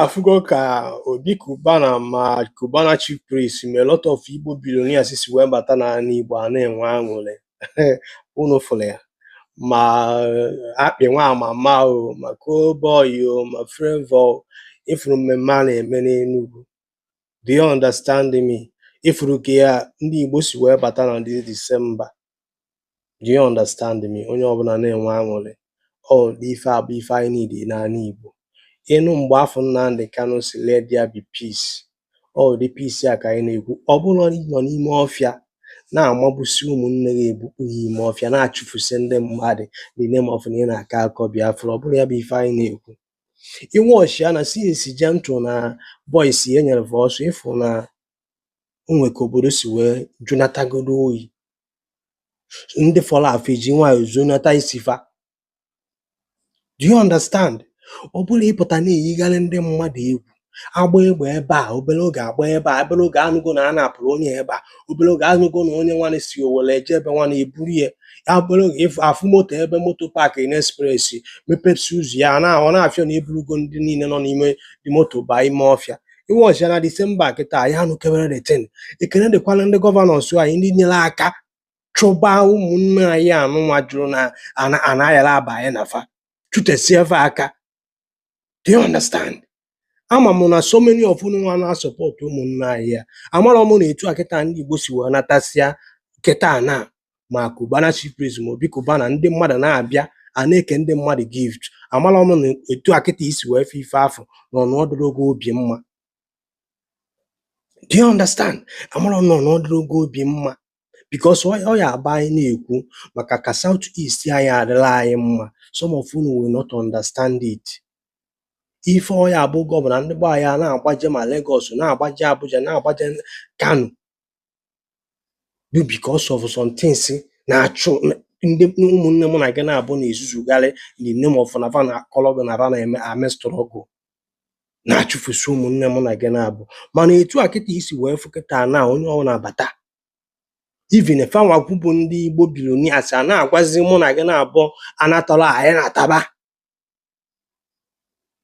afụgo ka Obi Cubana ma Cubana Chief Priest ma a lot of Igbo billionaires si wee bata n'ana Igbo a na-enwe aṅụrị unu fụrụ ya ma Akpị nwa mama o ma Cowboy o ma Flavour o ịfụrụ mmemme a na-eme n'Enugu do you understand me ịfụrụ ka anyị ndị Igbo si wee bata na this December do you understand me onye ọbụla na-enwe aṅụrị ụdị ife a bụ ife anyị niidị n'ana Igbo ị nụ mgbe afụ Nnamdi Kanu sị let there be peace ụdị peace a ka anyị na-ekwu ọ bụrọ ịnọ n'ime ọfịa na-amagbusi ụmụnne gị ebukpu ya ime ọfịa na-achụfusi ndị mmadụ the name of na ị na-akọ akọ Biafra ọ bụrọ ya bụ ife anyị na-ekwu ị watchia na since Gentle na boys e nyere ọsọ ị fụ na o nwe ka obodo si wee jụnatagodu oyi ndị fọrọ afọ eji nwayọ zonata isi fa do you understand ọ bụrọ ịpụta na-eyigharị ndị mmadụ egwu agba egbe ebe a obere oge agba ebe a obere oge anụgo na a napụrụ onye ebe a obere oge anụgo na onye nwa na si Owere eje ebe nwa na eburu ya ya obere oge ịfụ afụ moto ebe moto paakị na ekspresi mepepụsi ụzọ ya na ọ na-afịọ na eburugo ndị niile nọ n'ime the moto baa ime ọfịa ị watchia na December a kịta anyị anụkeberọ the thing ekene dịkwalụ ndị gọvanọs anyị ndị nyere aka chụba ụmụnne anyị anụnwa jụrụ na ana ayarọ aba anyị na fa chụtesie fa aka do you understand ama m na so many of unu nwa na-asọpọtụ ụmụnne anyị a amalụ m na etu a kịta ndị Igbo si wee natasịa kịta na ma Cubana Chief Priest ma Obi Cubana ndị mmadụ na-abịa a na-eke ndị mmadụ gift amala m na etu a kịta i si wee fụ ife afụ na ọ dịrọ gị obi mma do you understand amala m na ọ dịrọ gị obi mma because ọ ọ ya bụ anyị na-ekwu maka ka South East anyị a dịlị anyị mma some of unu will not understand it ife ọ ya-abụ gọvanọ ndị gbaa ya na-agbaje ma Lagos na-agbaje Abuja na-agbaje Kano bụ because of some things na-achụ ndị ụmụnne mụ na gị naabọ na-ezuzugharị in the name of na fa na-akọrọ gị na fa na-eme eme struggle na-achụfusi ụmụnne mụ na gị naabọ mana etu a kịta i si wee fụ kịta na onye ọbụna abata even fa nwa bụ ndị Igbo billionaires a na-agwazi mụ na gị naabọ a na-atọrọ anataba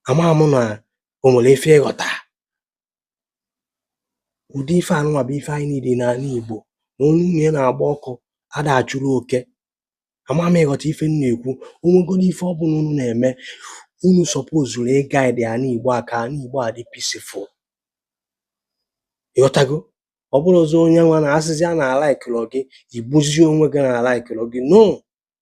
ama m na o nwere ife ịghọta ụdị ife anụnwa bụ ife anyị niidị n'ana Igbo na onye ụnọ ya na-agba ọkụ ada achụrụ oke ama m ịghọta ife m na-ekwu o nwegodu ife ọbụna unu na-eme unu sọpozuru ịgaịdị ana Igbo a ka ana Igbo a dị pisifụl ịghọtago ọ bụrọzi onye nwa na asịzia na alaikịrọ gị igbuzie onwe gị na alaikịrọ gị no